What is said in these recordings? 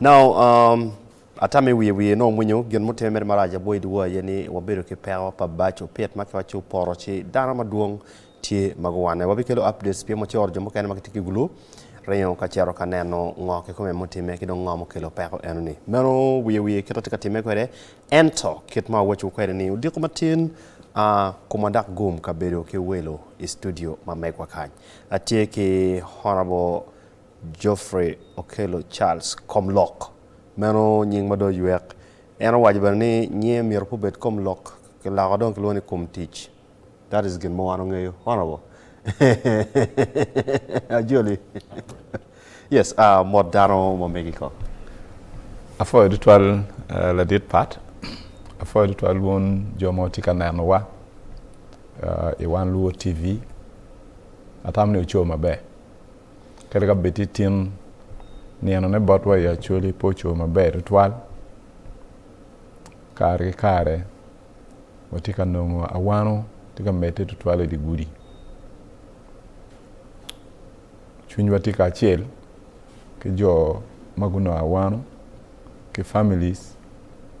Now um, ata me wiye wiye nongo winyo gin mutime mere marac abwo i dyewa aye ni wabedo ki peko pa bac opit ma kiwaco opoto ci dano madwong tye ma guwanne. Wabikelo updates pien wacoro jo mukene ma gitye ki gulu ringo ka cito ka neno ngo kikome mutime ki dong ngo mukelo peko enoni. Meno wiye wiye kit atye ka time kwede ento kit ma awacowu kwede ni odiko matin a kuma dak gum ka bedo ki welo i studio ma megwa kany. Atye ki Honourable Geoffrey Okello Charles, Komlok, meno nying ma dong oywek. En owaco bene ni nyinge myero pe obed Komlok, kiloko dong kilwongo ni Komtic. That is gin ma wan wangeyo. Honourable. Ajoli. Yes, ah, mot dano ma Mexico. Apwoyo tutwal ladit Pat, apwoyo tutwal wun jo ma wutye ka nenowa i Wan Luo TV. Atamo ni wuco maber. Kadi ka bed tye tin, ninone botwa i Acholi pe ocoo maber tutwal. Kare ki kare watye ka nongo awano tye ka medde tutwal i dye gudi. Cwinywa tye kacel ki jo ma gunongo awano ki families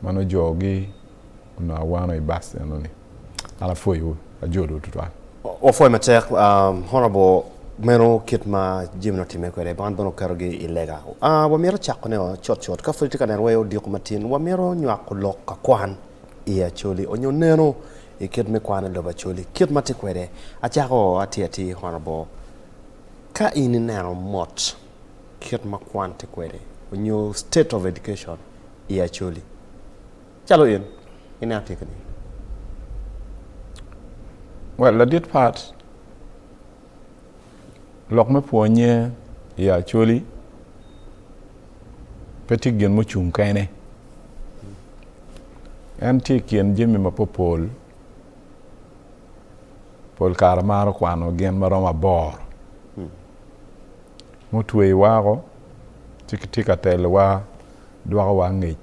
ma nujoogi. onongo awano i bus enoni. An apwoyowu, ajolowu tutwal. Wapwoyi matek Honourable, meno kit ma jami nongo timme kwede, man bene oketogi i lega. Wamito cako ne cut cut, ka pud itye ka neno wai odiko matin, wamito nywako lok ka kwan i Acholi onyo neno i kit me kwan i lobo Acholi kit ma tye kwede. Acako atir atir Honourable, ka in ineno mot, kit ma kwan tye kwede onyo state of education i Acholi. Calo in, ineno tye kene? Well, ladit pat, lok me pwonye i Acholi pe tye gin mucung kene. En tye i kin jami mapopol, pol kare maro kwano gin maromo aboro. mutweyi wako ci kitye ka telowa dwokowa angec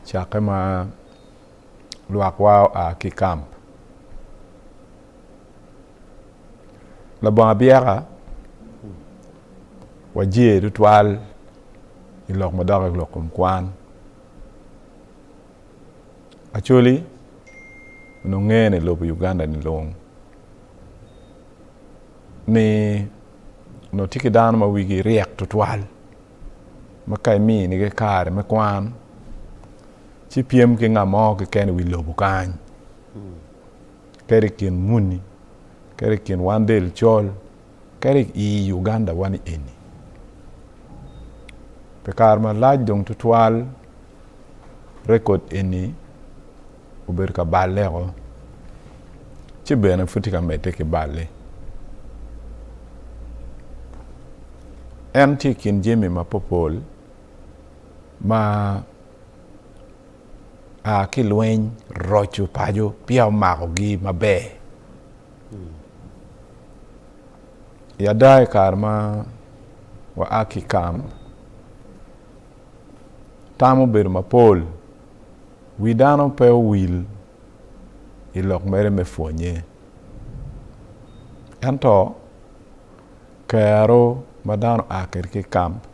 cakke ma lwakwa oa ki i kamp. Labongo abyeka wajer tutwal i lok ma doki lok kom kwan Acholi onongo ngene i lobo Uganda-ni lung. ni onongo tye ki dano ma wigi ryek tutwal ma ka iminigi kare me kwan ci pyem ki ngat mo keken i wi lobo kany kadi i kin muni kadi i kin wan del col kadi i Uganda wani eni pi kare malac dong tutwal rekod eni obedo ka balleo ci bene pud tye ka medde ki balle. En tye i kin jami mapopol ma a ki lweny, roco paco peya omakogi maber. I ada i kare ma waa ki i kamb, tam obedo mapol. Wi dano pe owil i lok mere me pwonnye, ento kero ma dano a kwede ki i kamp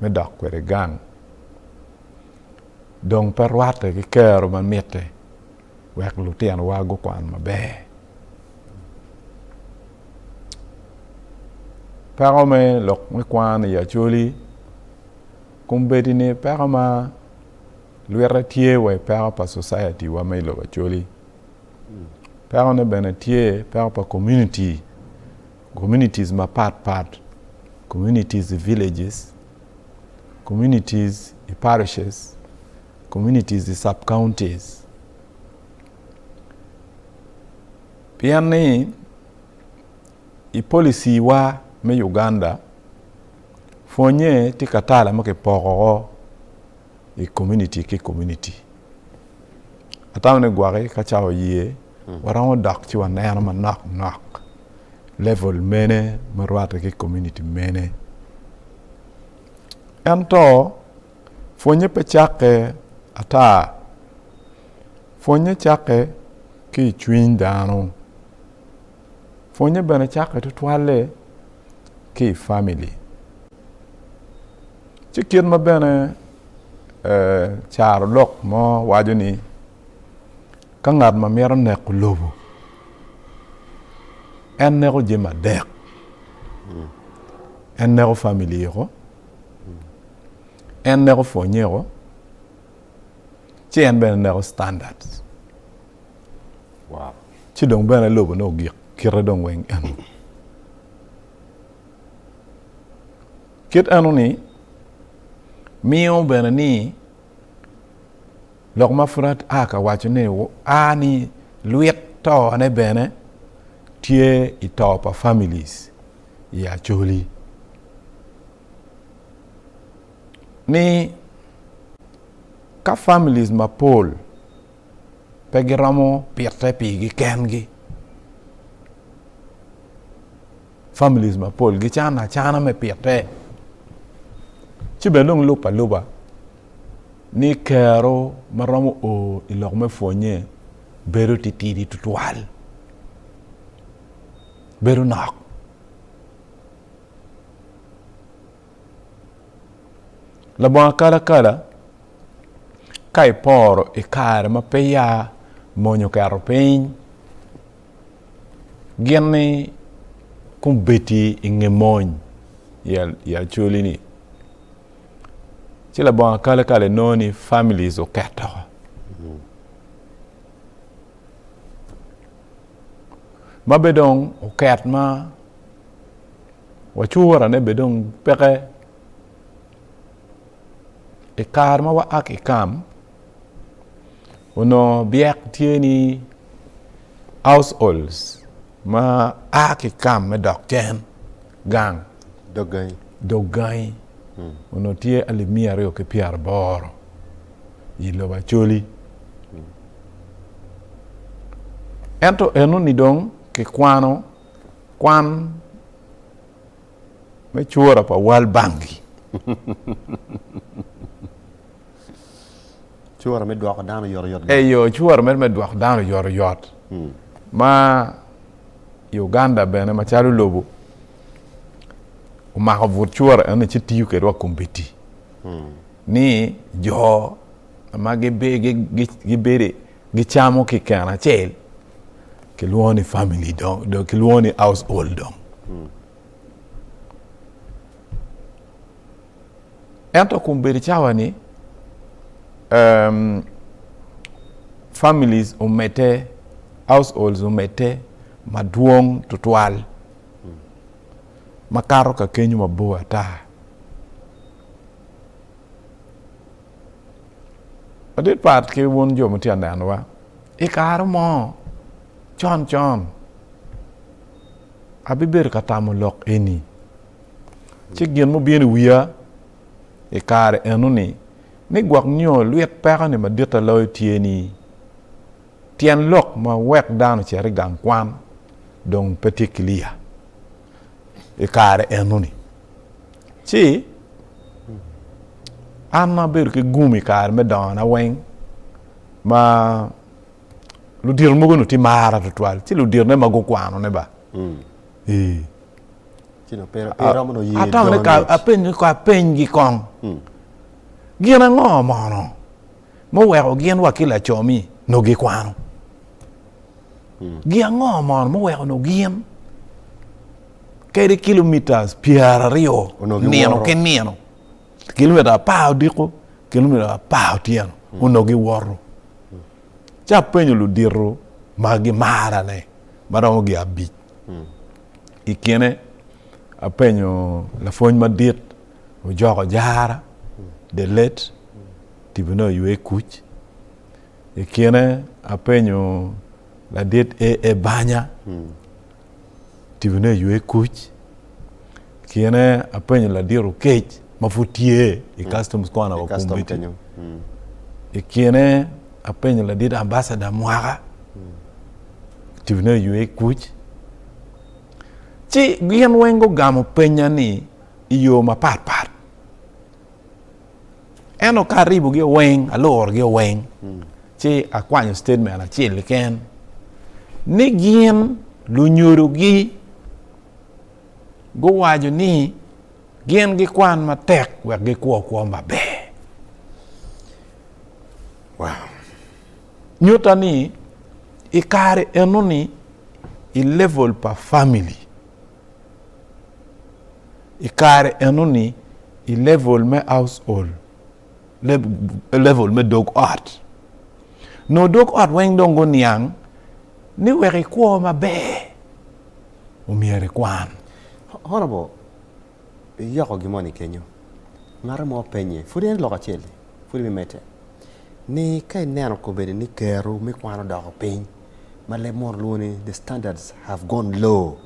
me dok kwede gang dong pe rwatte ki kero ma mitte wek lutinowa gukwan maber. Peko me lok me kwan i Acholi kombeddi ni peko ma Lwite tye wa i peko pa society wa ma i lobo Acholi. Peko ne bene tye peko pa community, communities ma pat pat, communities i villages, communities i parishes, communities i sub counties. Pien ni I policy wa me Uganda, pwonye tye ka tala ma ki poko o i community ki community. Atamo ni gwaki ka ca oye hmm. waromo dok ci waneno manok nok level mene ma rwate ki community mene. Ento pwonye pe cakke ata. Pwonye cakke ki i cwiny dano. Pwonye bene cakke tutwalle ki i famili. Ci kit ma bene eh, carolok mo waco ni ka ngat ma mito neko lobo en neko jami adek en neko famili eko en neko pwonye eko Ci en bene neko standards. Wow. Ci dong bene lobo ne ogik kite dong weng eno. Kit eno ni miyo bene ni lok ma pud aa ka waco ni a ni lwit to ne bene tye i to pa families i Acholi. ni ka families mapol pe giromo pite pigi kengi families mapol gicano acana me pite ci bene dong lub aluba ni kero ma romo o i lok me pwonnye bedo titidi tutwal bedo nok Labongo akalakala ka iporo i kare ma pe ya mony oketo piny gin ni kong bedi i nge mony i acoli ni ci labongo akalakala inongo ni families oketo ma be dong oket ma Wacura ne bene dong peke i kare ma waa ki i kam onongo byek tye ni households ma a ki i kam me dok cen gang dog gangi onongo tye alip miya aryo ki pyera aboro i lobo Acholi ento eno ni dong kikwano Kwan me cura pa World Bank Cura me dwoko dano oyotoyot. Eyo, cura mere me dwoko dano oyotoyot. Hmm. Ma i Uganda bene macalo lobo omako but cura eno ci tiyo kwede wa kombiti. Hmm. Ni jo ma gibedo gicamo ki keno acel kilwongo ni family dong dong kilwongo ni house old dong ento kun bedo cawa ni um, families omedde households omedde madwong tutwal makato ka kenyo mabor ata Adit pat ki wun jo ma tye ka nenowa, i kare mo con con abibedo ka tamo lok eni, ci gin mubino i wiya i kare enoni ni gwok nio lwit peko ni maditta loyo tye ni tyen lok ma wek dano ocit i gang kwan dong pe tye kiliya i kare enoni. Ci an ma abedo ki gum i kare me dongona weng ma ludito mogo nu ti mara tutwal ci luditone ma gukwanone ba ii Ci na pera pera mo ye atamo ni ka jone. apenyo ka apenygi kong gin ango mono muweko gin wa ki laco-mi nongo gikwano? Gin ango mono muweko nongo gin kadi kilomitas pyeraryo nino ki nino, kilomita apar odiko, kilomita apar otyeno, onongo giwoto? Ci apenyo ludito ma gimarane ma romo gin abic. I kine apenyo lapwony madit. ojoko jara, the late, tibu ne oywe ikuc. I kine apenyo ladit AA Banya, tibu ne oywe ikuc. Kine apenyo ladit Okech ma pud tye i Customs kona wa Kumbiti. I kine apenyo ladit Ambassador Mwaka, tibu ne oywe ikuc. Ci gin weng gugamo penya ni i yo mapat pat ento ka aribogi weng alurogi weng hmm. ci akwanyo statement acel keken ni gin lunyodogi guwaco ni gin gikwan matek wek gikwo kwo maber wow. nyuta ni i kare enoni i level pa family i kare enoni i level me household level me dog ot nongo dog ot weng dong guniang ni wek ikwo maber omyero ikwan horrible Iyoko gin moni kenyo? Ngato mo openye. Pud en lok acel-li. Pud imedde ni, Ka ineno kobedi ni kero me kwan odoko piny, ma leb mono lwongo ni the standards have gone low,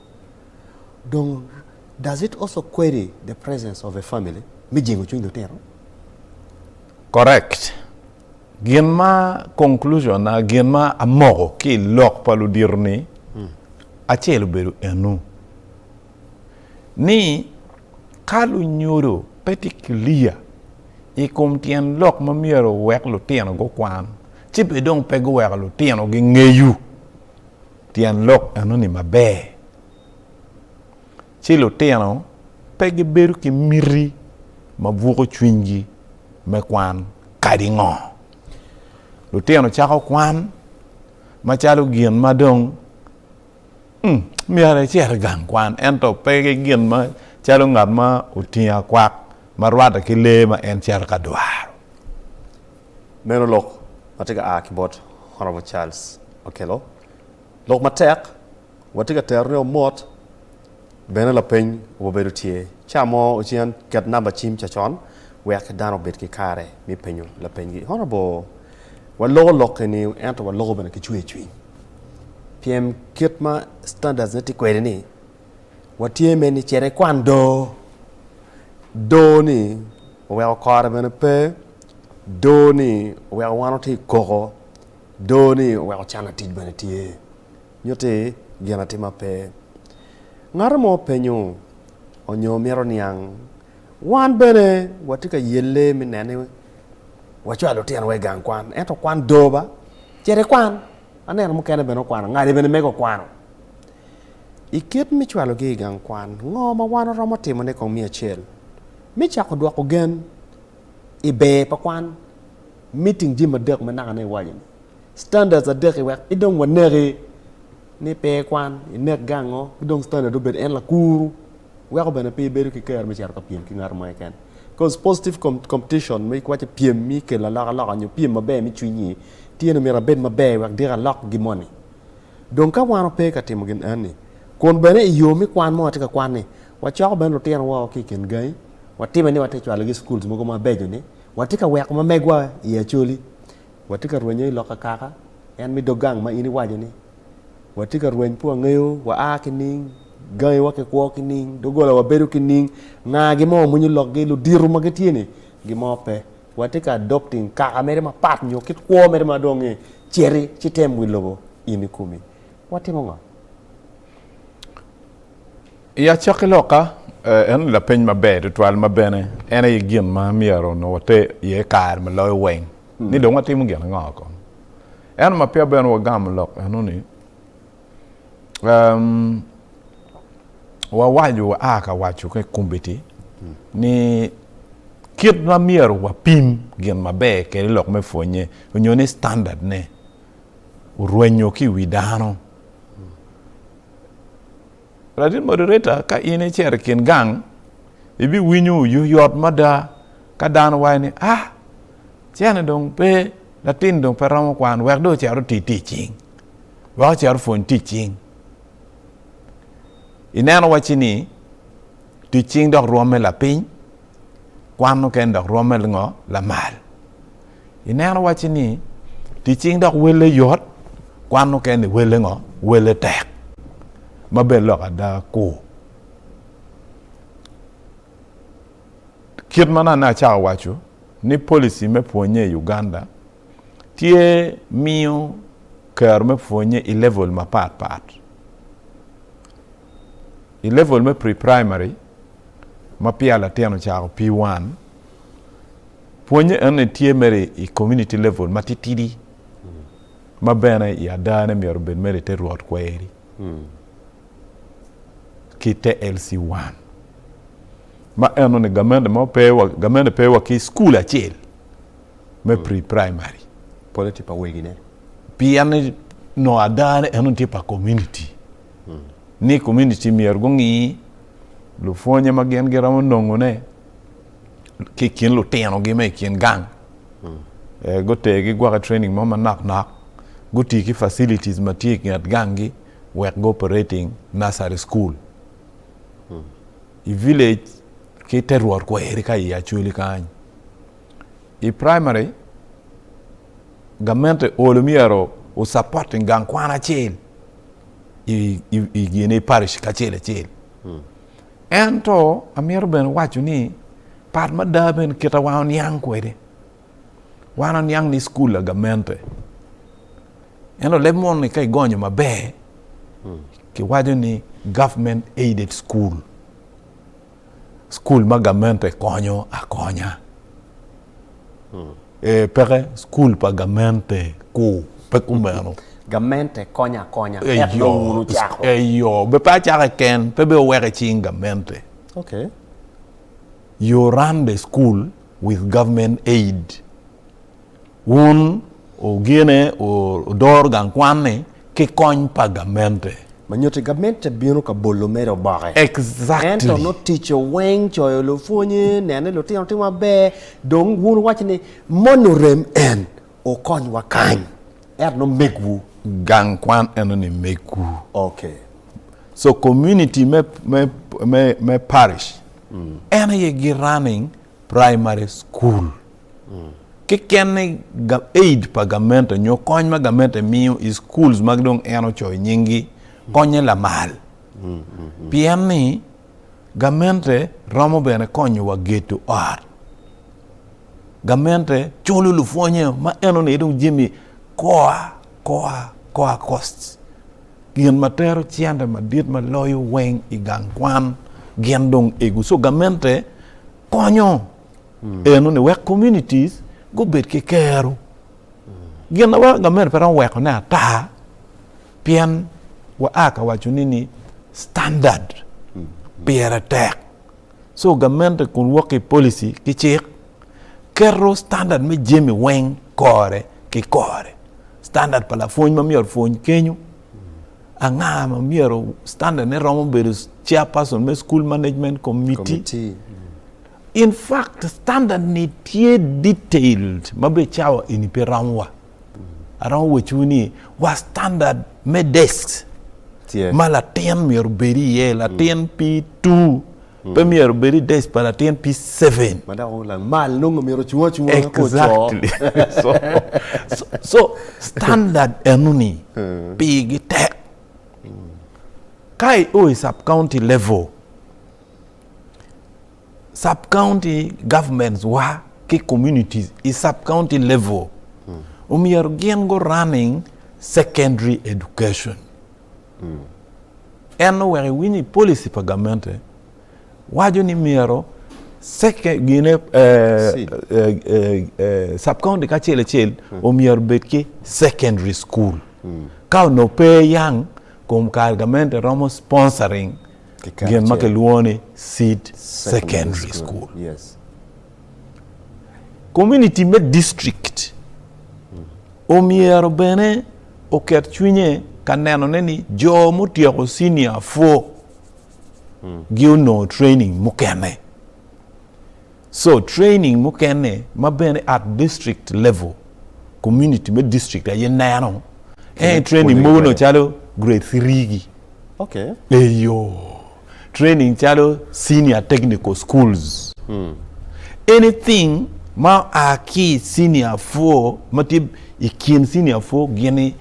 dong does it also query the presence of a family me jingo cwiny lutino? Correct. Gin ma conclusion na, gin ma amoko ki i lok pa ludito ni, acel obedo enu. ni ka lunyodo pe tye kiliya i kom tyen lok ma myero owek lutino gukwan, ci bene dong pe guweko lutino gingeyo tyen lok eno-ni maber. Ci lutino pe gibedo ki miti ma buko cwinygi me kwan. Kadi ngo, lutino cako kwan macalo gin ma dong Myero icit i gang kwan, ento pe ki gin macalo ngat ma otingo akwak ma rwatte ki lee ma en cito ka dwaro. Meno lok ma tye ka a ki bot Honorable Charles Okello. Lok matek, watye ka terone-o mot. Bene lapeny obedo tye. Ca mo ocen ket namba cim cacon wek dano obed ki kare me penyo lapenygi. Honorable, waloko lok eni ento waloko bene ki cwer cwiny. Pien kit ma standards ne tye kwede ni watye me ni cere kwan do. Do ni oweko kore bene pe. Do ni oweko wan watye i koko. Do ni oweko cana tic bene tye. Nyutti gin atir ma pe ngato mo penyo onyo mito niang. Wan bene watye ka yelle me neno ni wacwalo lutinowa i gang kwan. Ento kwan doo ba. Cit ikwan. Aneno mukene bene okwano. Ngati bene mege okwano. I kit me cwalogi i gang kwan, ngo ma wan waromo timone kong me acel? Me cako dwoko gen i ber pa kwan, meeting jami adek ma nakane iwaco-ni. Standards adek-ki wek ki dong waneki ni pe ikwan, inekgi ango? Ki dong standard obedo en lakuru, weko bene pe ibedo ki kero me cito ka pyem ki ngat mo keken. Cause positive competition ma iwaco pyem ma ikelo alokaloka nyo pyem maber me cwiny-nyi tye ni myero abed maber wek dyeka alok gin moni. Dong ka wan wape ka timo gin enoni, kun bene iyo me kwan ma watye ka kwan-ni, wacoko bene lutinowa wa ki i kin gangi, watime ni watye ka cwalogi i schools mogo mabeco-ni, watye ka weko ma megwa i Acholi. Watye ka rwenyo i lok akaka, en mi dog gang ma in iwaco ni, Watye ka rweny pi wangeyo, wa a ki ning, gangi wa ki kwo ki ning, dogola wa bedo ki ning, nga gi ma wamwinyo lok gi, ludito ma gitye ni, gi mo pe. Watye ka adopting kaka mere ma pat nyo kit kwo mere ma dong ee, citi ci tem wi lobo in i komi. Watimo ngo? I acakki loka, eno ni lapeny maber tutwal ma bene en aye gin ma myero onongo water iye kare ma loyo weng. ni dong watimo gin ango kong. Ento ma peya bene wagamo lok eno ni um, wawaco waa ka waco ki kombiti ni kit ma myero wapim gin maber kede lok me pwonye onyo ni standard ne orwenyo ki wi dano. Latin moderator, ka in icero i kin gang, ibiwinyo oyoyot mada ka dano waco ni, ah, cene dong pe, latin dong pe romo kwan, wek dong ocito oti tic cing, wek ocito opwony tic cing. Ineno wacci ni tic cing dok rwomme lapiny, kwan nokene dok rwomme ngo? Lamal. Ineno wacci ni tic cing dok welle yot, kwan mukene welle ngo? Welle tek. Ma bed lok ada ku. Kit ma nonne acako waco ni policy me pwonye i Uganda tye miyo kero me pwonye i level mapat pat. I level me pre-primary ma peya latin ocako P-one, Pwonye eni tye mere i community level matitidi ma bene i adane myero obed mere i te rwot kweri ki te LC one ma eno ni gamente mo pe wa, gamente pe wa ki school acel me pre-primary. Pole tye pa wegine. Pien ni nongo adane eno tye pa community ni community myero gungi lupwonye ma gin giromo nongone. ki i kin lutinogi ma i kin gang. Eh, gutergi gwoko i training mo manok nok. Gutii ki facilities ma tye i nget ganggi wek go operating nursery school. I village ki te rwot kweri ka i Acholi kany. I primary, gamente olo myero o supporting gang kwan acel i, i, i gini parish kacel acel. Ento amito bene waco ni pat mada bene kita wa oniang kwede. Wan oniang ni school la gamente. Ento leb mon ni ka igonyo maber hmm. kiwaco ni government aided school. School ma gamente konyo akonya. Ee, peke. Cukul pa gamente ku pe kumeno. Gamente konyo akonya, tek nongo wun wucako. Eyo, be pe acaka keken, pe be oweke cing gamente. Okay. You run the school with government aid. Wun ogene, odor gang kwan ni. ki kony pa gamente. Ma nyutti gamente bino ka bolo mere oboke. Exactly. Ento nongo ticce weng coyo lupwonye, neno ni lutino timo maber, dong wun wuwaco ni moni orem en okonywa kany. Ento nongo megwu. Gang kwan enoni megwu. Okay. So community me me me me parish en aye gi running primary school. Kekene aid pa gamente nyo kony ma gamente miyo i schools ma dong en ocoyo nyinggi konye lamal. Pien ni gamente romo bene konyo wa geto ot. Gamente culo lupwonye ma enoni dong jami koa koa koa cost. Gin ma tero cente madit ma loyo weng i gang kwan gin dong egu. So gamente konyo. eno ni wek communities gubed ki kero. Gin ma weko gamente pe romo weko ne ata pien wa a ka waco ni ni standard pire tek. So gamente kun wok ki policy ki cik keto standard me jami weng kore ki kore. Standard pa lapwony ma myero opwony kenyo, anga ma myero standard ne romo bedo chair person me school management committee. In fact standard ni tye detailed ma be cawa eni pe romo wa. Aromo wecwu ni wa standard me desk Tye. ma latin myero obed iye latin P2 pe myero obed i desk pa latin P7. Ma dok ongo lamal nongo myero ocung acunga wek ocoo. Exactly. so, so, so standard eno ni pigi tek. Ka i o i sub county level, Sub-county governments wa ki communities i sub-county level omyero gin gu running secondary education. En owek iwiny i policy pa gamente waco ni myero gine sub-county kacel acel omyero bed ki secondary school. Ka onongo pe yang kom kare gamente romo sponsoring gin ma kilwongo ni Seed Secondary School. Komuniti me distrikt omyero bene oket cwinye ka nenone ni jo mutyeko cinia four-gi onongo training mukene. So training mukene ma bene at district level community me district aye neno en training mogo nongo calo grade three gi eyo training calo senior technical schools anything ma oa ki i senior four ma tye i kin senior four gini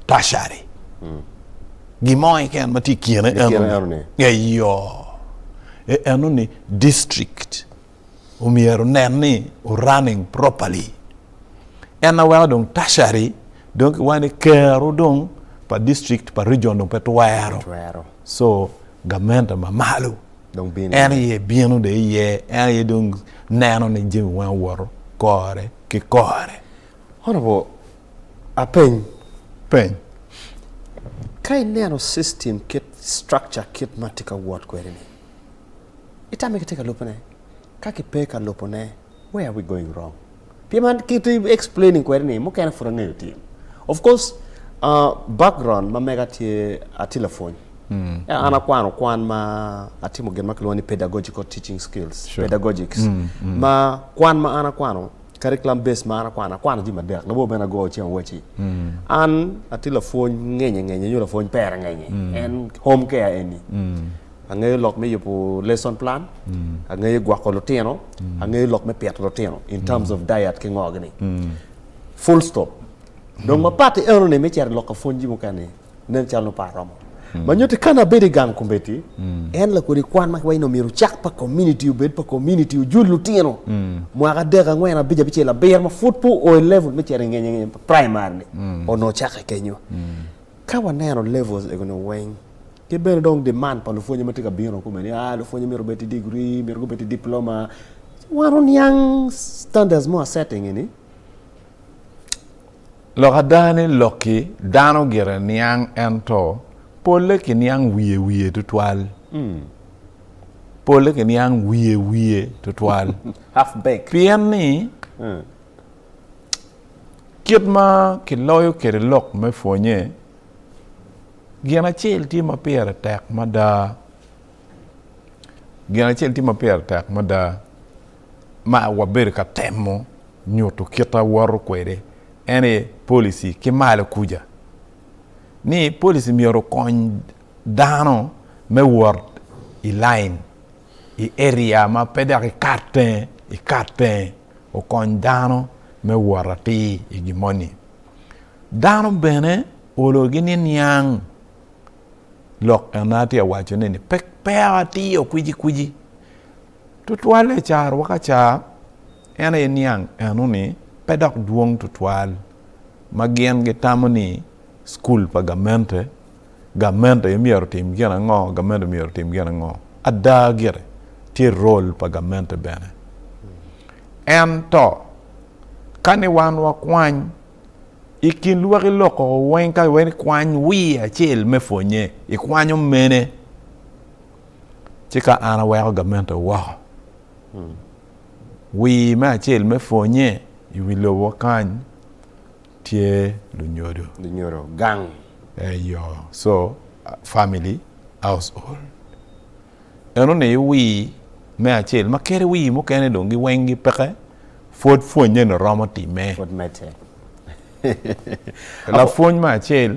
tertiary. Gin mo keken ma tye i kine enoni. Eyo. E enoni district omyero nen ni o running properly. En na weko dong tertiary dong ki wani kero dong pa district pa region dong pe twero. So gamente ma malo en iye bino de iye en iye dong neno ni jami weng owoto kore ki kore. Honorable, apeny peny, ka ineno system kit structure kit ma tye ka wot kwede ni, itame kitye ka lubone? Ka kipe ka lubone, where are we going wrong? Pien man kit explaining kwede ni mukene pud angeyo tim. Of course, uh, background ma mega tye atye lapwony. Mm. Yeah, an akwano kwan ma atimo gin ma kilwongo ni pedagogical teaching skills, sure. pedagogics. Mm. Mm. Ma kwan ma an akwano Curriculum based mar akwano akwano jami adek labor bene ago ceng awaci an atye lapwony ngenye ngenye nyo lapwony pere ngenye en home care eni angeyo lok me yubo lesson plan angeyo gwoko lutino angeyo lok me pito lutino in terms of diet ki ngo gini full stop dong mapati enoni me cito lok ka pwony jami mukene Nen calo nongo pe aromo. Ma nyutti ka an abedo i gang kombeddi, en lakodi kwan ma kiwaco ni omyero ocak pa komuniti, obed pa komuniti, ojul lutino mwaka adek, angwen, abic, abicel, abiro ma pud pe oo i level me cito i ngeny ngeny, primary-ni onongo ocakke kenyo. Ka waneno levels egoni weng, ki bene dong demand pa lupwonye ma tye ka bino kome ni aa lupwonye myero obed ki degree, myero gubed ki diploma, ci wan oniang standards mo aset engini. Lok ada ni lokki dano gire niang ento polle kiniang wiye wiye tutwal. Polle kiniang wiye wiye tutwal. Half baked. Pien ni kit ma kiloyo kwede lok me pwonye gin acel tye ma pire tek mada. Gin acel tye ma pire tek mada. ma wabedo ka temo nyuto kit ma wawoto kwede en aye policy ki malo kuca ni policy myero okony dano me wot i line i area ma pe dok ikat tenge ikat tenge okony dano me wot atir i gin moni. Dano bene olo gi ni niang lok en atye awaco ni pe pe atio kwici kwici Tutwalle carowa ka ca en aye niang enoni pe dok dwong tutwal ma gin gitamo ni cukul pa gamente, gamente aye myero otim gin ango, gamente myero otim gin ango. Ada gire, tye rol pa gamente bene. Ento, ka ni wan wakwany i kin lwaki loko weng ka iwene ikwany wiye acel me pwonye, ikwanyo mene? ci ka an aweko gamente woko, wir me acel me pwonnye i wi lobo kany tye lunyodo. Lunyodo gang. Eyo, so family household eno ni wir me acel ma kadi wir mukene dong gi weng gi peke pwod pwonnye ni romo time. Pwod mete. Lapwony me acel.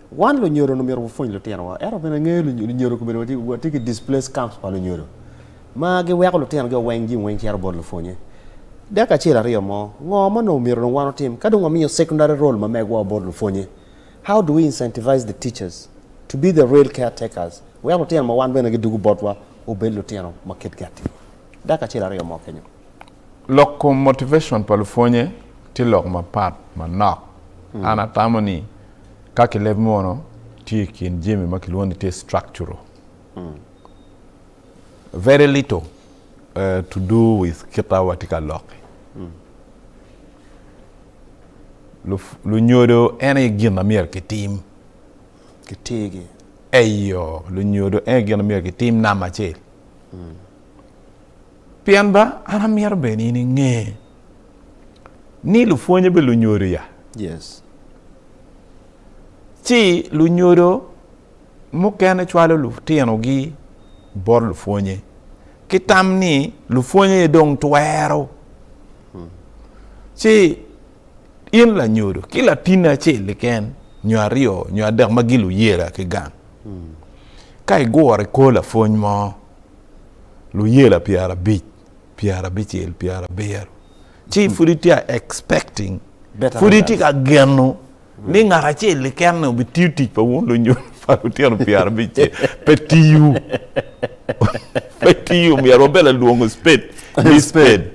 Wan lunyodo onongo myero wapwony lutinowa, ento bene angeyo lunyodo kobedo watye ki displaced camps pa lunyodo ma giweko lutinogi oweng jing weng cito bot lupwonye. Dek acel aryo mo, ngo ma onongo myero dong wan otim ka dong wamiyo secondary role ma megwa bot lupwonye? How do we incentivize the teachers to be the real caretakers wek lutino ma wan bene gidugu botwa obed lutino ma kitgi atir? Dek acel aryo mo kenyo. Lok kom motivation pa lupwonye tye lok mapat manok. An atamo ni Ka kileb mono tye i kin jami ma kilwongo ni tye structural, very little to do with kita watye ka lok-ki. Lunyodo en aye gin ma myero kitim. Kitegi. Eyo, lunyodo en aye gin ma myero kitim namba acel. Pien ba an amito bene in inge. ni lupwonye be lunyodo ya yes ci lunyodo mukene cwalo lutinogi bot lupwonye ki tam ni lupwonye dong twero hmm. ci in lanyodo ki latin acel liken nyo aryo nyo adek ma gin luyela ki gang hmm. ka igure kor lapwony mo luyela pyera abic pyerabicel pyerabiro ci pud itye ka expecting Better pud itye ka geno ni ngat acel keken-ni obitiyo tic pa wun lunyodhi pa lutino pyerabicel pe tiyo pe tiyo omyero wabed lalwongo spade ni spade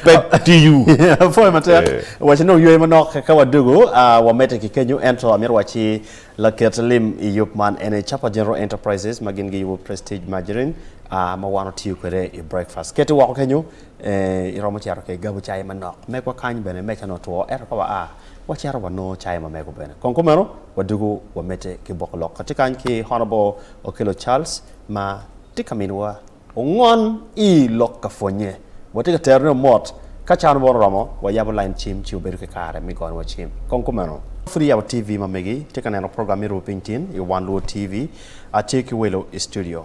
pe tiyo. Apwoyo matek waci nongo yweyo manok ka wadwogo ah, wamedde ki kenyo ento amito waci laket lim i yub man ene Chapa General Enterprises ma gin giyubo Prestige Margarine a ma wan watiyo kwede i breakfast. Keti woko kenyo, ee, iromo cito ki gabo cai manok. Megwa kany bene mecane otwo, ento ka waa, wacito wanongo cai mamego bene. Kong kumeno, wadwogo wamedde ki boko lok. Atye kany ki Honourable Okello Charles ma tye ka miniwa ongon i lok ka pwonye. Watye ka terone o mot. Ka cawa nobworo oromo, wayabo lain cim ci wabedo ki kare me gonwa cim. Kong kumeno. Pud iyabo TV ma megi, itye ka neno program me Rwopiny Tin i wan Luo TV. Atye ki welo i studio.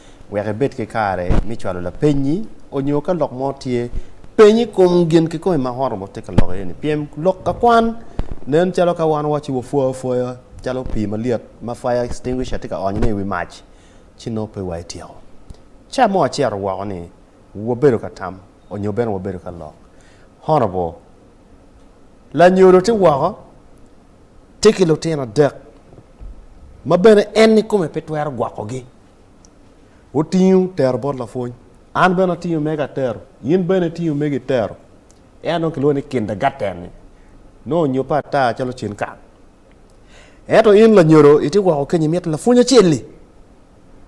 wek ibed ki kare me cwalo lapenyi onyo ka lok mo tye, peny i kom gin kikome ma Horeb tye ka loko iye ni. Pien lok ka kwan nen calo ka wan wawaco ci wapwoyo apwoya calo pii malyet ma fire extinguisher tye ka onyo ne i wi mac ci nongo pe wa etyeko. Ca mo acito woko ni wabedo ka tam onyo bene wabedo ka lok. Horeb lanyodo tye woko tye ki lutino adek ma bene en ikome pe twero gwoko gi. Otingo tero bot lapwony. An bene atingo mega atero. In bene itingo megi itero. En nongo kilwongo ni kindergarten-ni. Nongo onyobbe ata calo cen kal. Ento in lanyodo itye woko kenyo imito lapwony acel-li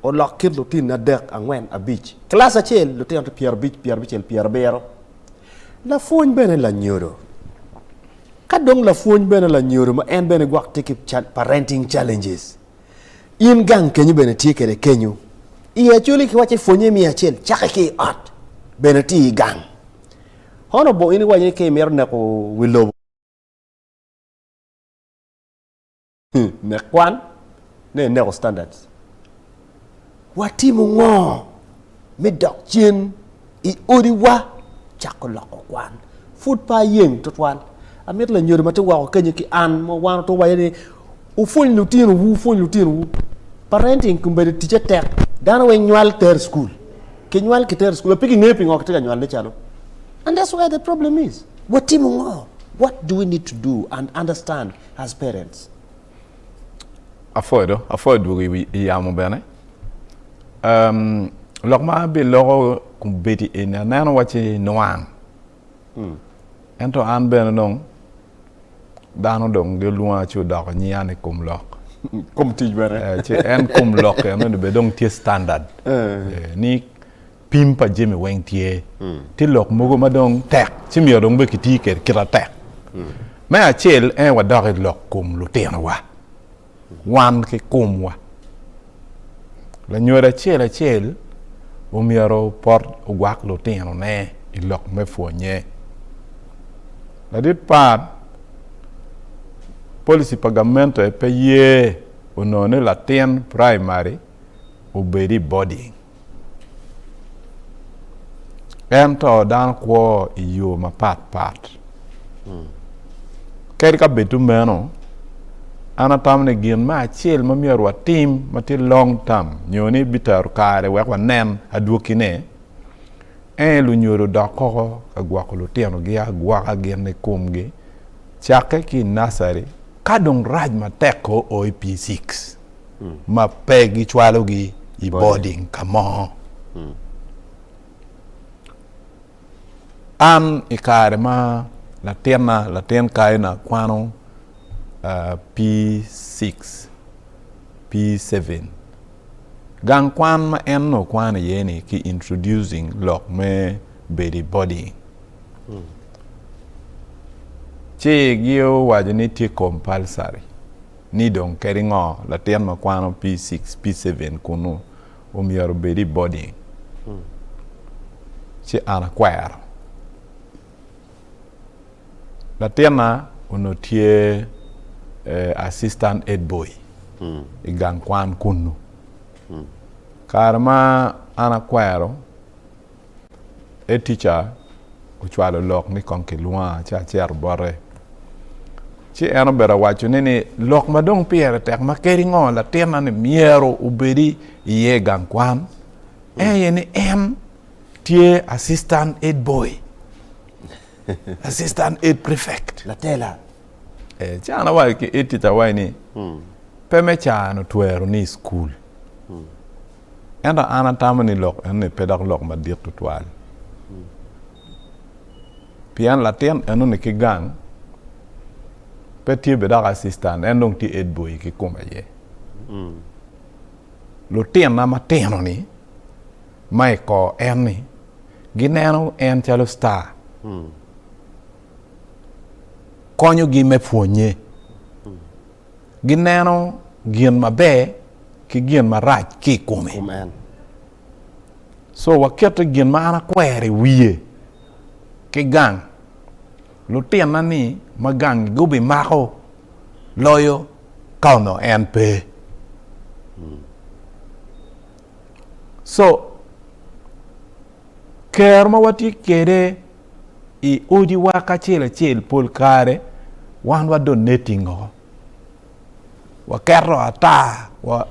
olok kit lutinni adek, angwen, abic. Kilaci acel lutino tye pyerabic, pyerabicel, pyerabiro. Lapwony bene lanyodo. Ka dong lapwony bene lanyodo ma en bene gwok tye ki parenting challenges. In gang kenyo bene tye kede kenyo i acoli ki waco i pwonye miyo acel cake ki i ot bene ti i gang hono bo in iwaco ni ka imito neko wi lobo nek kwan ne ineko standards. Watimo ngo me dok cen i odiwa? Cako loko kwan. Pud pe ayeng twatwal. Amito lanyodo ma tye woko kenyo ki an ma wan otwowa iye ni, Wupwony lutinowu, wupwony lutinowu. Parenting kombeddi ticce tek. Dano weng nywal ter i cukul. Kinywal kiter i cukul, pe kingeyo pingo kitye ka nywalone calo. And that's where the problem is. Watimo ngo? What do we need to do and understand as parents? Apwoyo do, apwoyo dwogo i yamo bene. Um, lok ma biloko kumbedi eni aneno wacci nwang. Hmm. Ento an bene dong dano dong gilwonga ci odoko nyian i kom lok. kom tic bene. Eh, ci en kom lok eno ni be dong tye standard. Eh. Eh, ni Pim pa jami weng tye. Tye lok mogo ma dong tek ci myero dong bene kiti kwede kit atek. Me acel en aye wadok i lok kom lutinowa, wan ki komwa. Lanyodo acel acel omyero opot ogwak lutinone i lok me pwonye. Ladit pat, policy pa gamente pe ye onongo ni latin praimari obed i boding. Ento dano kwo i yo mapat pat. Hmm. Kadi ka bedo meno, an atamo ni gin me acel ma myero watim ma tye long term nyo ni bitero kare wek wanen adwokine en lunyodo dok koko ka gwoko lutinogi agwoka gin i komgi cakke ki i nasari ka dong rac matek ko o i P6. ma pe gicwalogi i boding ka mo. An i kare ma latinna, latin kayina kwano P6, P7, gang kwan ma en nongo kwano iye ni ki introducing lok me bedo i boding. Ci giowaco ni tye compulsory. Ni dong kadi ngo latin ma kwano P-six, P-seven kunu omyero obed i boarding, ci an akwero. Latinna onongo tye assistant head boy i gang kwan kunu. Kare ma an akwero, Head teacher ocwalo lok ni kong kilwonga ci acito bote. Ci en obedo awaco ni ni lok ma dong pire tek ma kadi ngo latinna ni myero obedi iye i gang kwan en aye ni en tye assistant head boy, assistant head prefect. Latela. Eh, ci an awaco ki head teacher wai ni pe me cano twero ni i school. Ento an atamo ni lok enoni pe dok lok madit tutwal. Pien latin enoni ki gang pe tye bene dok asistan, en dong tye edboy kikome aye. Lutinna matino-ni ma i kor en-ni gineno en calo star, konyogi me pwonnye. gineno gin maber ki gin marac ki i kome. Kum en. Co wakette gin ma an akwero i wiye ki gang. Lutinna-ni ma gangi gubimako loyo ka onongo en pe. Co, ker ma watye kwede. i odiwa kacel acel pol kare wan wa do netting o waketo ata wa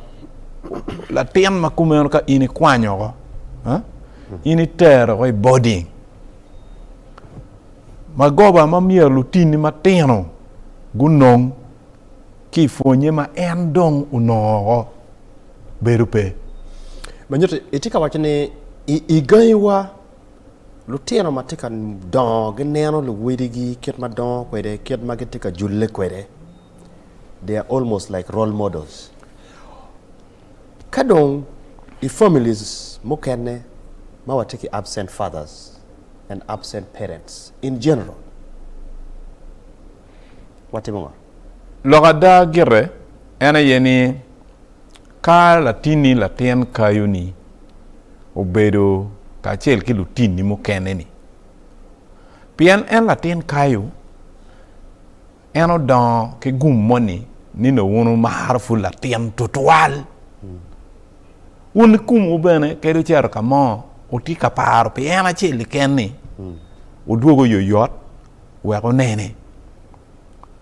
latin ma kumeno ka in ikwanyo oko in itero oko i boding magoba ma myero lutini matino gunong ki pwonye ma en dong onongo oko bedo pe manyuto itye ka waco ni i gangiwa Lutino ma tye ka dongo gineno luwadigi kit ma dongo kwede, kit ma gitye ka julle kwede. They are almost like role models. Ka dong i families mukene ma watye ki absent fathers and absent parents in general, watimo ngo? Lok ada gire en aye ni Ka latinni latin kayoni obedo kacel ki lutinni mukene-ni, pien en latin kayo, en odongo ki gum moni ni nongo wun wumaro pud latin tutwal. Wun i komwu bene kadi wucito ka mo, wutye ka paro pi en acel keken-ni, wudwogo yoyot wek wunene.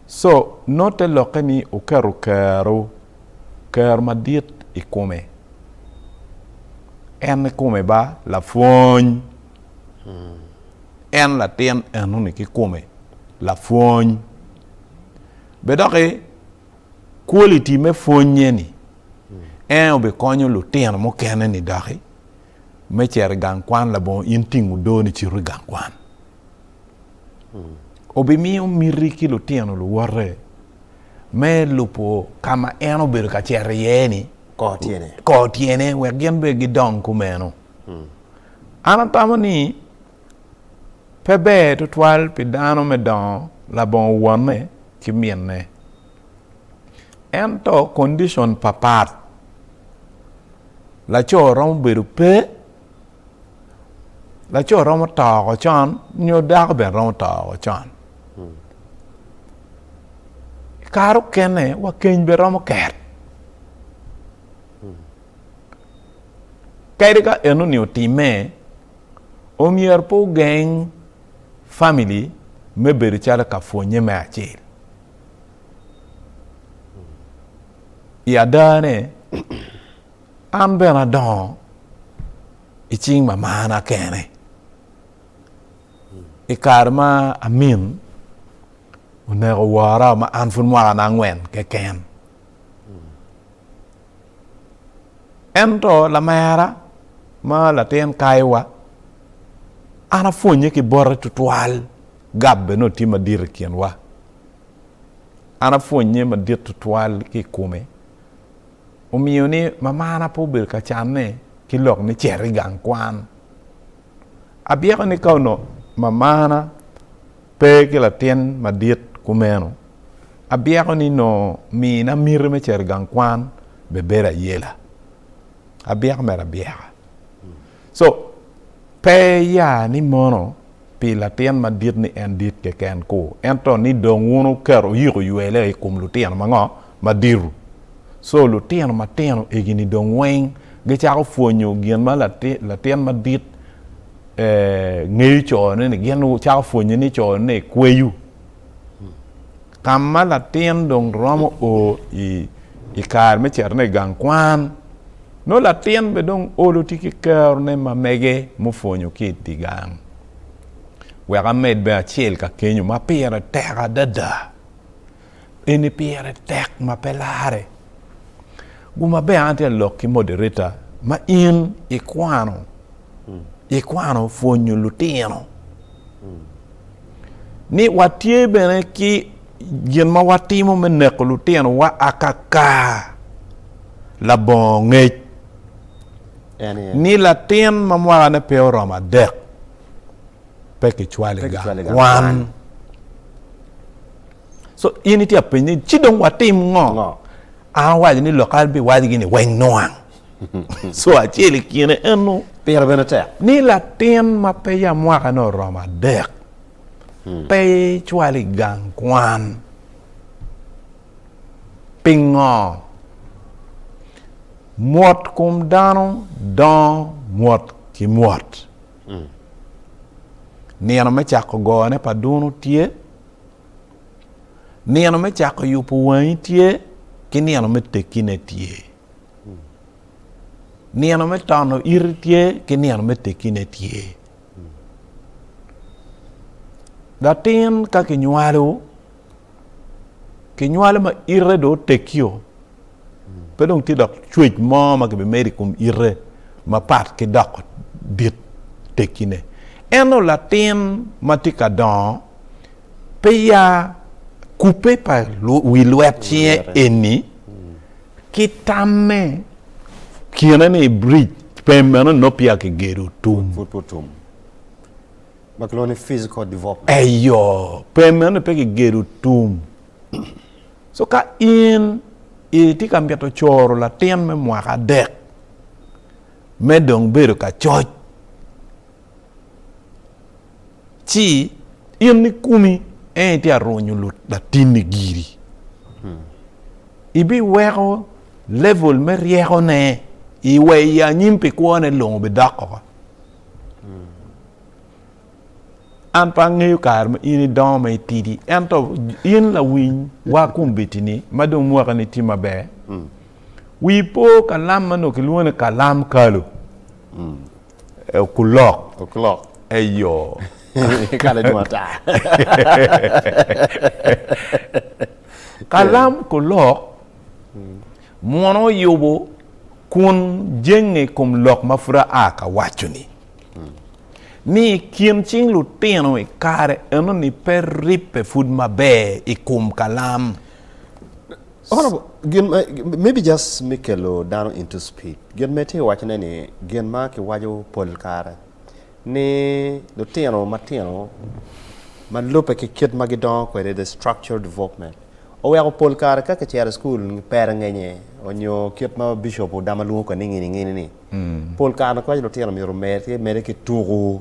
Co. Nongo te lokke ni wuketo kerowu. Kero madit i kome. En i kome ba lapwony. En latin enoni ki kome lapwony. Be doki quality me pwonye ni en obikonyo lutino mukene ni doki me cero i gang kwan labongo in tingo do ni cito i gang kwan. Obimiyo miti ki lutino luwote. me lubo ka ma en obedo ka cito iye-ni kor tyene wek gin bene gidong kumeno. An atamo ni pe ber tutwal pi dano me dongo labongo wonne ki minne. Ento kondicon papat laco romo bedo pe. laco romo toko con nyo dako bene romo toko con kare okene wa keny bene romo ket kadi ka enoni otime omyero pe ogeng famili me bedo calo ka pwonye me acel i adane An bene adongo i cing ma marna kene. I kare ma amin oneko wora ma an pud mwakana angwen keken. Ento lamera ma latin kaiwa an apwonye ki bote tutwal, gab bene otye madit i kinwa. An apwonye madit tutwal ki i kome. omiyo ni mamana pe obedo ka canne ki lok me cito i gang kwan. Abyeko ni ka onongo mamana pe ki latin madit kumeno, abyeko ni nongo mina miti me cito i gang kwan bibedo ayela. Abyeko mere abyeka. So pe iya ni mono pi latin madit ni en dit keken ku, ento ni dong wun wuketo oyiko ywele i kom lutino ma ngo? Madito. So lutino matino egini dong weng gicako pwonyo gin ma latin madit ee ngeyo cone ni, gin cako pwonye ni cone kweyo. ka ma latin dong romo o i kare me citone i gang kwan, nongo latin bene dong olo tye ki kerone ma mege mupwonyo ki i gang. Wek amed bene acel ka kenyo ma pire tek adada, eni pire tek ma pe larre. Guma bene an atye ka lok ki moderator ma in ikwano ikwano pwonyo lutino ni watye bene ki gin ma watimo me neko lutinowa akaka labongo ngec ni latin ma mwakane pe oromo adek pe kicwale gangwan so in itye apeny ni ci dong watim ngo an waco ni lok an biwacgi ni weng nwang co acel i kine eno. Pire bene tek ni latin ma peya mwakane oromo adek hmm. pe icwal i gang kwan. Pingo? Mwot kom dano dongo mwot ki mwot. Hmm. Nino me cako gone pa duno tye, nino me cako yubo wangi tye, ki nino me tekine tye. Nino me tono iti tye ki nino me tekine tye. Latin ka kinywalo, kinywalo ma ite do otekio, pe dong tye dok cwec mo ma kibimedo i kom ite mapat ki doko dit tekine. Ento latin ma tye ka dongo, pe ya kubbe pa wi lwet cinge eni, Ki tamme, kine ni biric pem meno nongo peya kigedo tum. Pud pe otum. Ma kilwongo ni physical development. Eyo, pem meno pe kigedo tum. So ka in itye ka mito coro latin me mwaka adek me dong bedo ka coc, Ci in ni kumi en itye arunyo latinni giri. Hmm. Ibiweko level me ryekone iwe i anyim pi kwone longo bidok oko. Hmm. An pe angeyo kare ma in idongo ma itidi ento in lawiny wa kombedini ma dong mwaka ni tye maber. Hmm. Wi po kalam ma nongo kilwongo ni kalam kalo. Eh, okulok. Okulok. Eyo. Kala dong ata. Kalam kulok mwono oyubo kun jenge i kom lok ma pud aa ka waco-ni. Ni i kin cing lutino i kare eno-ni pe ribbe pud maber i kom kalam. Honorable, gin ma maybe just me kelo dano into speed. Gin ma itye wacone ni gin ma kiwaco pol kare ni lutino matino ma lubbe ki kit ma gidongo kwede the structural development oweko pol kare ka kicero i school pere ngenye onyo kit ma bishop odama lwongo kwede ni ngini ngini ni pol kare kiwaco lutino myero omede ki tuku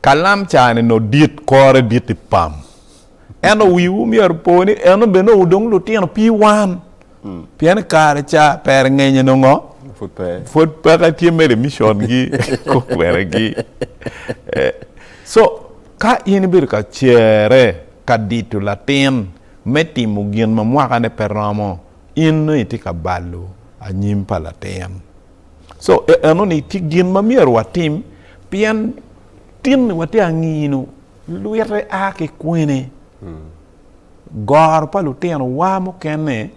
Kalam caa-ni nongo dit, kore dit i pam. Ento wiwu myero opo ni eno bene nongo dong lutino pi wan. Pien i kare ca pere ngenye nongo pud peke tye mere micongi, kweregi. Co, ka in ibedo ka cere ka dito latin me timo gin ma mwakane pe romo, in nongo itye ka balo anyim pa latin. So eno ni tye gin ma myero watim pien tin ni watye angino lwite a ki kwene. Hmm. Goro pa lutino wa mukene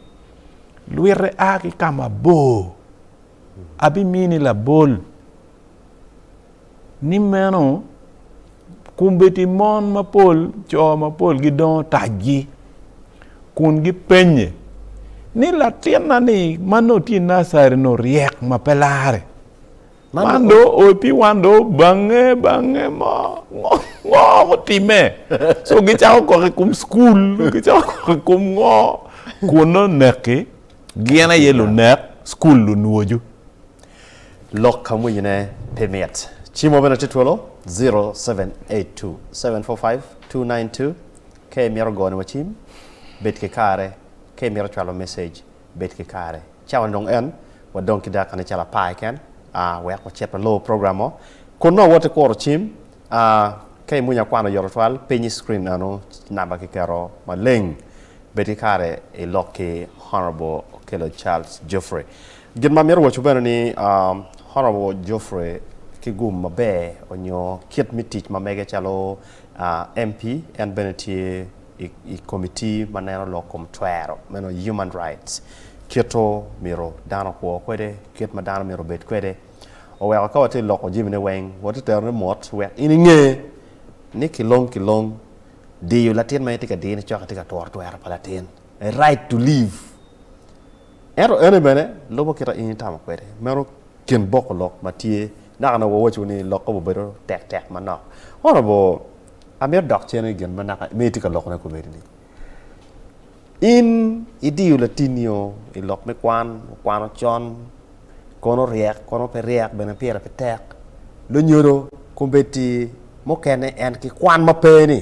lwite a ki ka mabor. Abimini labol. ni meno kombeddi mon mapol co mapol gidongo taggi kun gipenye ni latinna ni ma nongo tye i nacari nongo ryek ma pe lare man do oti wan do bange bange mo ngo gutimme so gicako koko i kom cukul gicako koko i kom ngo kun noneki Gin aye lunek, cukul lunwoju. Lok ka mwinyine pe mit. Cimo bene tye twolo, zero seven eight two, seven four five, two nine two. Ka imito gone wa cim, bed ki kare. Ka imito cwalo message, bed ki kare. Cawa dong en, wadong ki dakika nicalo apar keken, a wek wacit walor program mo. Kun nongo wot ikuro cim, a ka imwinyo akwano oyoto twal, piny i screen eno namba kiketo maleng. Bed ki kare i lok ki Honourable Okello Charles Geoffrey. Gin ma amito waco bene ni Honourable Geoffrey ki gum maber onyo kit me tic ma mege calo MP en bene tye i committee ma neno lok kom twero meno human rights kito myero dano okwo kwede kit ma dano myero obed kwede oweko ka watye loko jami ne weng watye terone mot wek in inge ni kilong kilong diyo latin ma en tye ka diyone cok itye ka tworo twero pa latin, a right to live. Ento ene bene lubo kita in itamo kwede. Meno kin boko lok ma tye. Naka nongo wawaco ni lokke obedo tek tek manok. Honorable, amito dok cen i gin ma naka ma itye ka lokone kobedi ni. In idiyo latinio i lok me kwan, okwano con, kono ryek, kono pe ryek, bene pire pe tek. Lonyodo, kombeddi mukene en ki kwan ma pe ni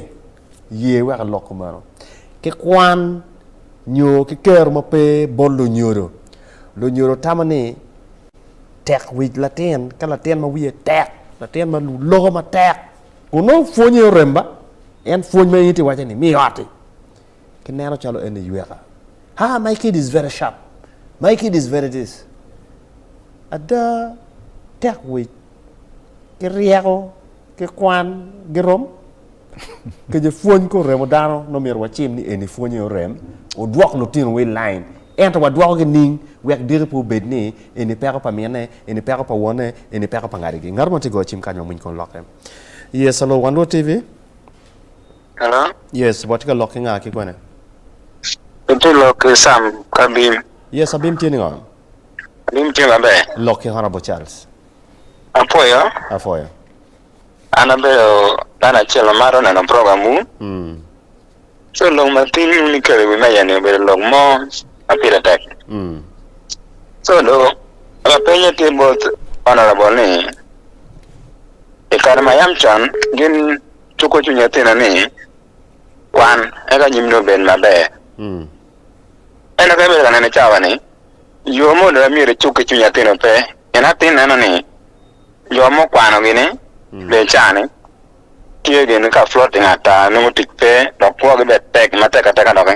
ye wek elok kumeno. Ki kwan nyo ki kero ma pe bot lonyodo. Lonyodo tamo ni tek wic latin, ka latin ma wiye tek, latin ma loko matek, kun nongo pwonye orem ba, en pwony ma in iti iwace ni mi oti. Ki neno calo en iyweka. Ha, my kid is very sharp. My kid is very this. Ada, tek wic ki ryeko ki kwan girom? Kece pwony ko remo dano nongo myero wacim ni eni pwonye orem, odwok lutinowa i line. Ento wadwokogi ning wek diki pe obed ni eni peko pa mine, eni peko pa wonne, eni peko pa ngadigi. Ngat mo tye ka goyo cim kany ma mony kong lokke. Yes, Alur Wan Luot TV. Hello. Yes, watye ka lok ki nga ki kwene? Itye ka lok ki Sam ki Abim. Yes, Abim tye ningo? Abim tye maber. Lok ki Honourable Charles. Apwoyo. Apwoyo. An abedo dano acel ma mato neno program wu. Mm. So lok ma piny wun ikelo i wi meja ni obedo lok mo ma pire tek. Mm. So do lapenye tye both Honourable ni i kare ma yam con gin Cuko cwiny atina ni kwan eka anyimni obed maber. Ento ka ibedo ka neno i cawa-ni, yo ma oloya myero icuk ki cwiny atin-nu pe, pien atin neno ni jo ma okwano gini bene caa-ni tye gin ka floating ata, nongo tic pe dok kwogi bene tek matek ateka doki.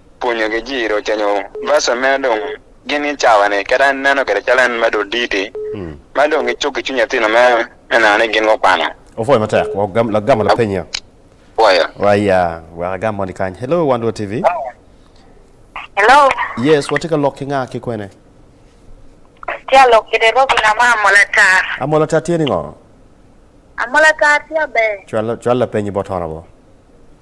pwonyogi jiro oce nyo verse meno dong gin ki cawa ni kit en neno kede calo en medo oditi ma dong gi cuk ki cwiny atino me me neno ni gin go kwano. Opwoyo matek wa gam la gamo la penyi ya. Pwoyo. Wa ya wek agam moni kany. Hello one world TV. Hello. Yes watye ka lok ki nga ki kwene. Atye alok kede Robin ama amolatar. Amolatar tye ningo? Amolatar tye aber. Cwal cwal la penyi bot honorable.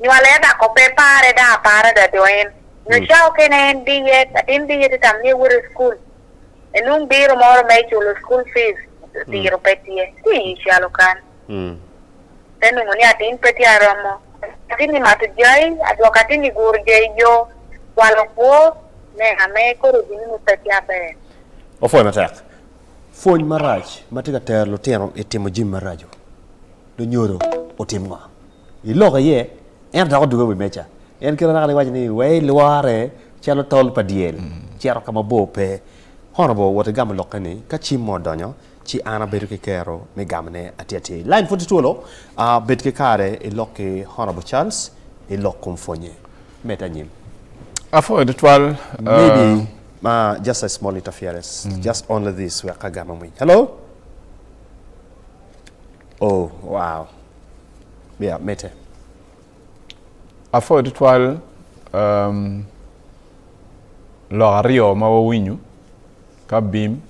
nywale ata ko pe pare dang apara ada do en nyo ca okene en diye atin diye ti tamo ni ewot i cukul enung biro moro me culo cukul fees diro pe tye ti i calo kan te nungu ni atin pe tye aromo atin i mato jai adwoko atin i guro jai yo kwalo kwo me ame kodi gin nungu pe tye aber. Opwoyo matek. Pwony marac ma tye ka tero lutino i timo jami maraco. lunyodo otim ngo? Iloko iye, ento dok odungo i wi meja. En kit anaka-ni iwaco ni, Wee ilwore calo tol pa dyel, cito ka ma bor pe. Honorable wot igamo lokke ni, Ka cim mo odonyo, ci an abedo ki kero me gamone atir atir. Lain pud tye twolo, bed ki kare ilok ki Honorable Charles i lok kom pwonye. Med anyim. Apwoyo tutwal. Maybe just a small interference, just only this wek agam amwiny. Hello? Oh, wow. Yeah, mitte. Apwoyo tutwal um, lok aryo ma wawinyo ka bim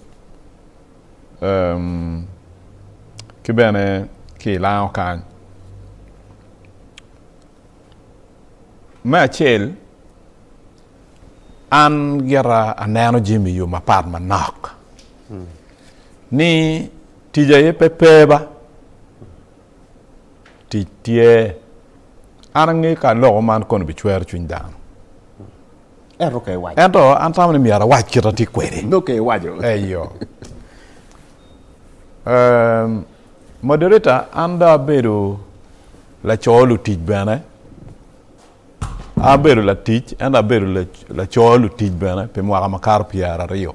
um, ki bene ki ilango kany. Me acel, An gira aneno jami i yo mapat manok ni tic aye pe pe ba tic tye. An angeyo ka loko man kono bicwero cwiny dano. Ento ka iwaco. Ento an tamo ni myero awac kit atye kwede. Dok ka iwaco. Eyo. Um, moderator, an do abedo laco lutic bene. Abedo latic ento abedo laco lutic bene pi mwaka makato pyeraryo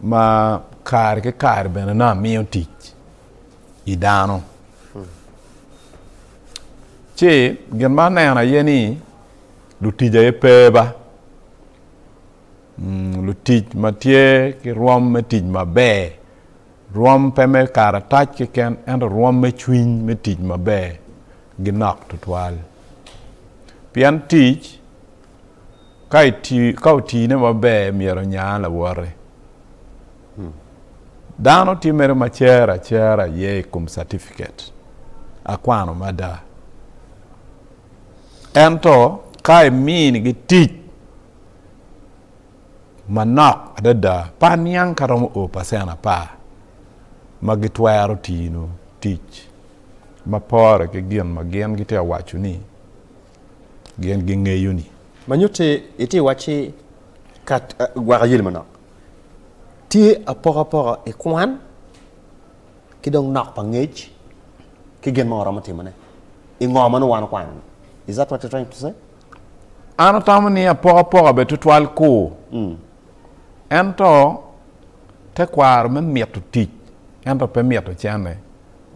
ma kare ki kare bene nongo amiyo tic i dano. Ci gin ma aneno aye ni lutic aye pe ba, lutic ma tye ki rwom me tic maber Rwom pe me karatac keken ento rwom me cwiny me tic maber ginok tutwal. Pien tic ka otine maber myero onya lawote. Dano tye mere ma cer acera aye i kom catifiket, akwano mada. Ento ka iminigi tic. Manok adada, par niang ka romo o pacent apar ma gitwero tino tic ma pore ki gin ma gin gitye ka waco ni gin gingeyo-ni. Ma nyutte, itye ka wacci ka gwaka yeli manok tye apokapoka i kwan ki dong nok pa ngec ki gin ma waromo timone i ngo ma nongo wan okwano-ni. Is that what you're trying to say? An atamo ni apokapoka bed tutwal kur, ento tekwaro me mito tic ento pe mito cene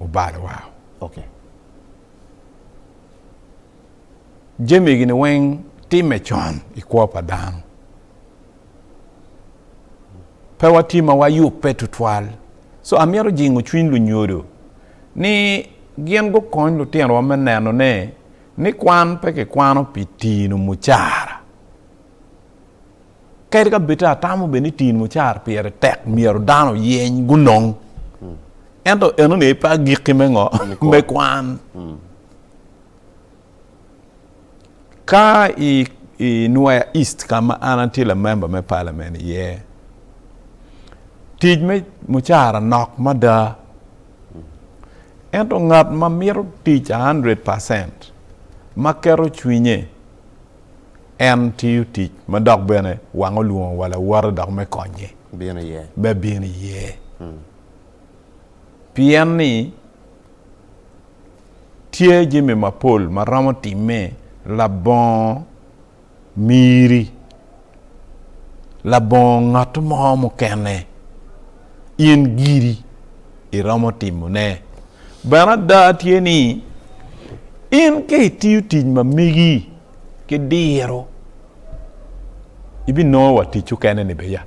obalo wao. Okay. Jami gini weng time con i kwo pa dano. Pe watye ma wayubbe tutwal. So amito jingo cwiny lunyodo ni gin gukony lutinowa me neno ne Ni kwan pe kikwano pi tino mucara. Kadi ka bed atamo bed ni tino mucara pire tek myero dano oyeny gunong, ento enoni pe agikki me ngo? Me kwan. Ka i i Nwea East ka ma an atye lamemba me palamen iye, tic me mucara nok mada. Ento ngat ma mito tic a hundred percent, ma keto cwinye, en tiyo tic ma dok bene wang olwongo wa lawote dok me konye, me bino iye. Pien ni tye jami mapol ma romo timme labongo. miri, labongo ngat mo mukene, in giri iromo timone. Bene ada tye ni in ka itiyo tic ma megi ki diro ibinongo wa ticcu kene ni beya.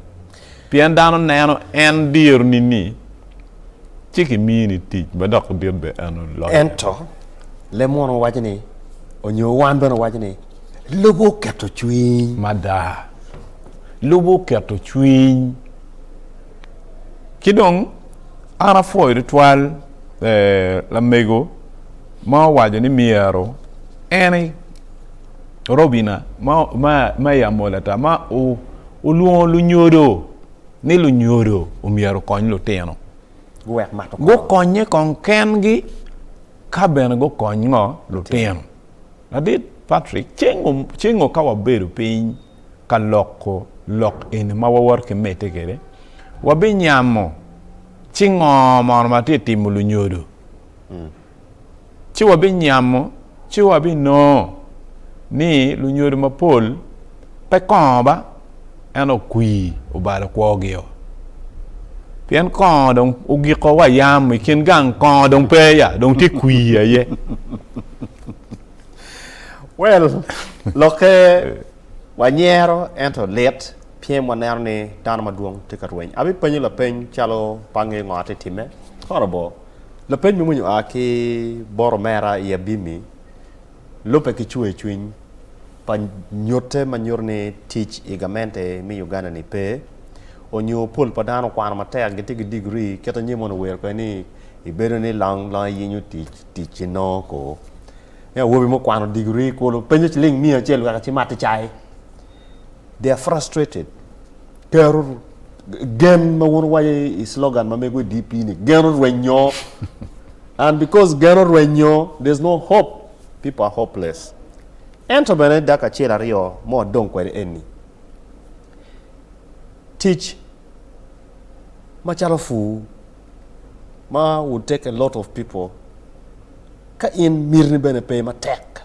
Pien dano neno en diro nini, ci kimiyo ni tic ma dok dit be eno loyo. Ento leb mono waco ni, onyo wan bene owaco ni, Lubo oketo cwiny. Mada, lubo oketo cwiny. Ci dong an apwoyo tutwal lamego ma owaco ni myero en. Robina ma i Amolata ma olwongo lunyodo ni lunyodo omyero okony lutino guwek mato kor. Gukonye kong kengi ka bene gukony ngo lutino. Adit Patrick, cengo cengo ka wabedo piny ka loko lok eni ma wawoto ki mete kede, wabinyamo ci ngo mono ma tye timo lunyodo. Mm. ci wabinyamo ci wabinongo ni lunyodo mapol pe kongo ba ento okwir obalo kwogio. Pien kongo dong ogiko wa yam i kin gang kongo dong pe ya dong tye kwir aye. Well, lokke wanyero ento lit pien waneno ni dano madwong tye ka rweny. Abipenyo lapeny calo pe angeyo ngo atye timme. Horrible. Lapeny me winyo oa ki bot omera i Abimi lubbe ki cwercwiny pa nyutte ma nyuto ni tic i gamente me Uganda-ni pe, onyo pol pa dano okwano matek gitye ki degree kit anyim mono owero kwede ni ibedo ni long long iyinyo tic, tic inongo koo. Awobi mukwano degree kulu penyo ciling miya acel wek ecimati cai. they are frustrated. Tero gen ma wun wayo i slogan ma mego i DP ni gen orwenyo. And because gen orwenyo, there's no hope. People are hopeless. Ento bene dak acel aryo ma wadong kwede eni. Tic macalo pur ma would take a lot of people ka in mitini bene pe matek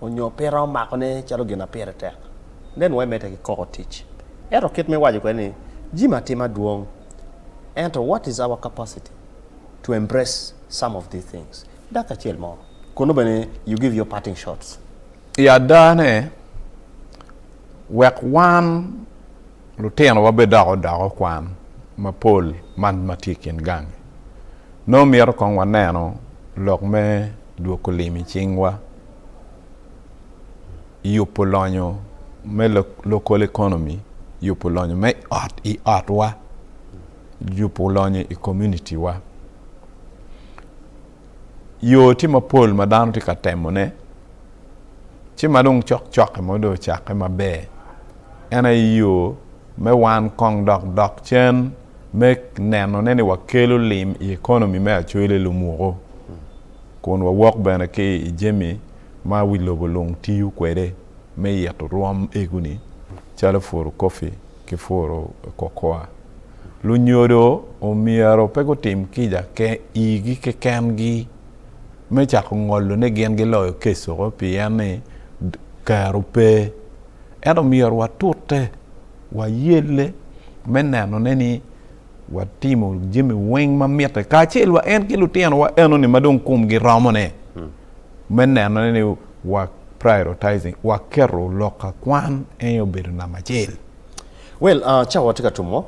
onyo pe iromo makone calo gin ma pire tek then why mete ki koko tic ento kit ma iwaco kwede ni jimi atima dwong ento what is our capacity to embrace some of these things dakika acel mo kun nongo bene you give your parting shots. I adane, wek wan Lutinowa bidoko doko kwan mapol man ma tye i kin gangi. Nongo mito kong waneno lok me dwoko lim i cingwa, yubo lonyo me local economy, yubo lonyo me ot i otwa, yubo lonyo i community wa. yo tye mapol ma dano tye ka temone, ci ma dong cok cokke mo dong ocakke maber, en aye yo me wan kong dok dok cen me nenone ni wakelo lim i economy me Acholi Lumuku, kun wawok bene ki i jami ma wi lobo lung tiyo kwede me ito rwom ego-ni calo photocopy. ki puro kokoa. Lunyodo omyero pe gutim kica igi kekengi me cako ngolo ni gin giloyo kecco pien ni kero pe. Ento myero watute, wayelle me nenone ni watimo jami weng ma mitte kacel wa en ki lutinowa enoni ma dong komgi romone me nenone ni wa prioritizing wa keto lok ka kwan eny obedo namba acel. Well cawa watye ka tumo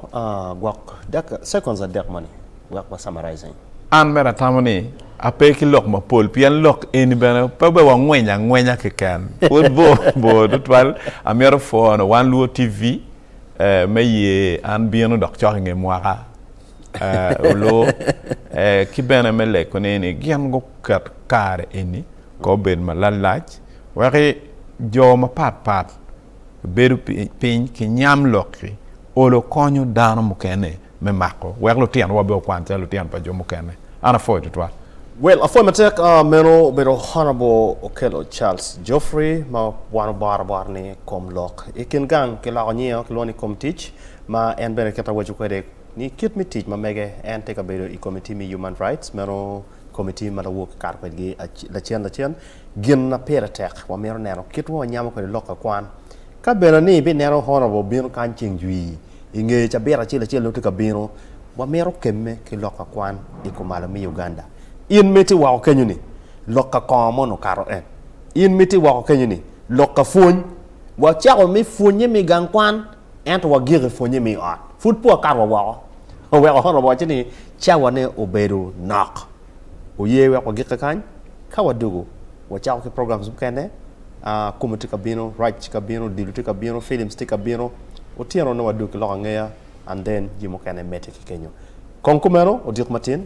gwok dek seconds adek moni wek wa summarizing. An bene atamo ni ape ki lok mapol pien lok eni bene pe obed wa ngweny angwenya keken pud bor bor tutwal amito pwono wan luo TV me ye an bino dok cok inge mwaka oluo ki bene me leko ni gin guket kare eni Ka obedo malalac wek jo mapat pat bedo piny ki nyam lok-ki, olo konyo dano mukene me mako wek lutinowa obed okwan calo lutino pa jo mukene. An apwoyo tutwal. Well, apwoyo matek. Meno obedo Honourable Okello Charles Geoffrey ma wan oboro bot ni Kom Lok. I kin gang ki loko nyinge-o kilwongo ni Kom Tic ma en bene kit awaco kwede ni kit me tic ma mege en tye ka bedo i Komitti me Human Rights meno Komitti ma lawor kikato kwedgi lacen lacen gin ma pire tek wamito neno kit ma wanyamo kwede lok ka kwan. Ka bene ni ibineno Honorable obino kany ceng jwi i nge cabit acel acel nongo tye ka bino, wamito kemme ki lok ka kwan i kumalo me Uganda. In ma itye woko kenyo ni, lok ka kongo moni okato en? In ma itye woko kenyo ni, lok ka pwony? Wacako me pwonye me gang kwan ento wagiko i pwonye me i ot. Pud pe wakato wa woko. oweko Hono wacce ni, Cawane obedo nok. Wuye wek wagikke kany? Ka wadwogo, wacako ki programs mukene. Akumu tye ka bino, Raj tye ka bino, Odilo tye ka bino, Films tye ka bino. Otyeno nongo wadwogo ki lok angeya, and then jami mukene medde ki kenyo. Kong kumeno, odiko matin.